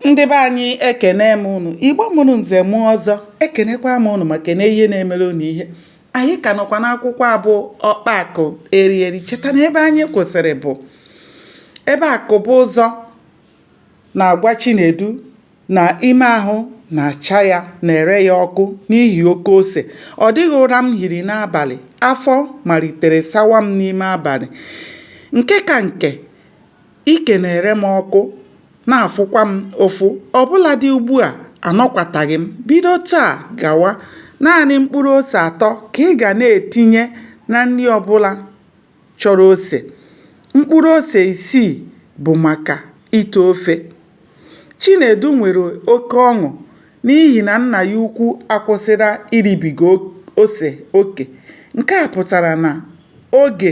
ndị be anyị ekene m unu igbo mụrụ nze mụọ ọzọ ekenekwa m unu ma kene ihe na-emere unu ihe anyị ka nọkwa n'akwụkwọ a bụ ọkpa akụ eri eri cheta na ebe anyị kwụsịrị bụ ebe akụbụzọ na-agwa chinedu na ime ahụ na-acha ya na-ere ya ọkụ n'ihi oke ose ọ dịghị ụra m hiri n'abalị afọ malitere sawa m n'ime abalị nke ka nke Ike na-ere m ọkụ, na-afụkwa m ụfụ. Ọ bụladị ugbu a, anọkwataghị m. Bido taa gawa, naanị mkpụrụ ose atọ ka ị ga na-etinye na nri ọ bụla chọrọ ose. Mkpụrụ ose isii bụ maka ite ofe. Chinedu nwere oke ọṅụ n'ihi na nna ya ukwu akwụsịla iribiga ose oke. Nke a pụtara na oge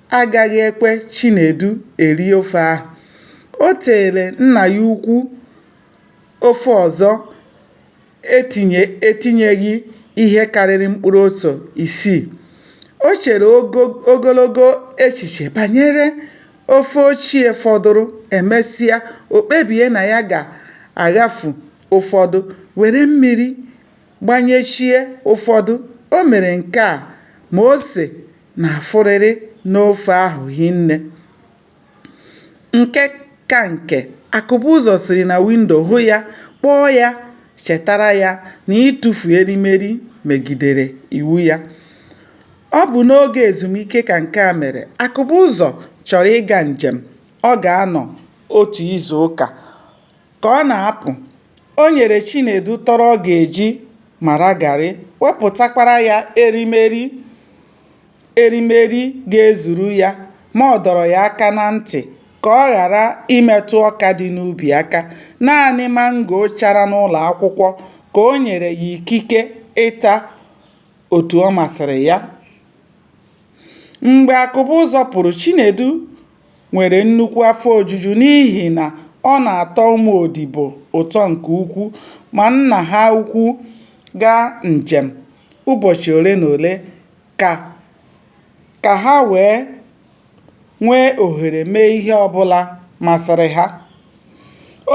agaghị ekwe Chinedu eri ofe ahụ. O teere nna ya ukwu ofe ọzọ etinyeghị ihe karịrị mkpụrụ ose isii. O chere ogologo echiche banyere ofe ochie fọdụrụ. Emesịa, o kpebie na ya ga-aghafu ụfọdụ were mmiri gbanyechie ụfọdụ. O mere nke a ma ose na-afụrịrị n'ofe ahụ hinne. Nke ka nke, Akụbụzọ siri na windo hụ ya, kpọọ ya chetara ya na ịtụfu erimeri megidere iwu ya. Ọ bụ n'oge ezumike ka nke a mere. Akụbụzọ chọrọ ịga njem ọ ga-anọ otu izuụka. Ka ọ na-apụ, o nyere Chinedu tọrọ ọ ga-eji mara garị, wepụtakwara ya erimeri ga-ezuru ya ma ọ dọrọ ya aka na ntị ka ọ ghara imetụ ọka dị n'ubi aka. Naanị mango chara n'ụlọ akwụkwọ ka o nyere ya ikike ịta otu ọ masịrị ya. Mgbe Akụbụzọ pụrụ, Chinedu nwere nnukwu afọ ojuju n'ihi na ọ na-atọ ụmụ odibo ụtọ nke ukwuu ma nna ha ukwu gaa njem ụbọchị ole na ole ka ka ha wee nwee ohere mee ihe ọ bụla masịrị ha.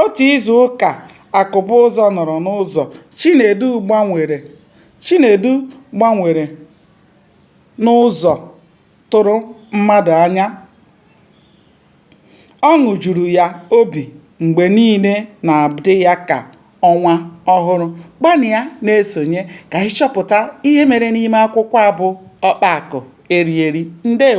Otu izu ụka Akụbụzọ nọrọ n'ụzọ, Chinedu gbanwere Chinedu gbanwere n'ụzọ. tụrụ mmadụ anya. Ọṅụ juru ya obi mgbe niile na-adị ya ka ọnwa ọhụrụ. Gbanịa na-esonye ka anyị chọpụta ihe mere n'ime akwụkwọ a bụ Ọkpa Akụ Erieri. Ndewo.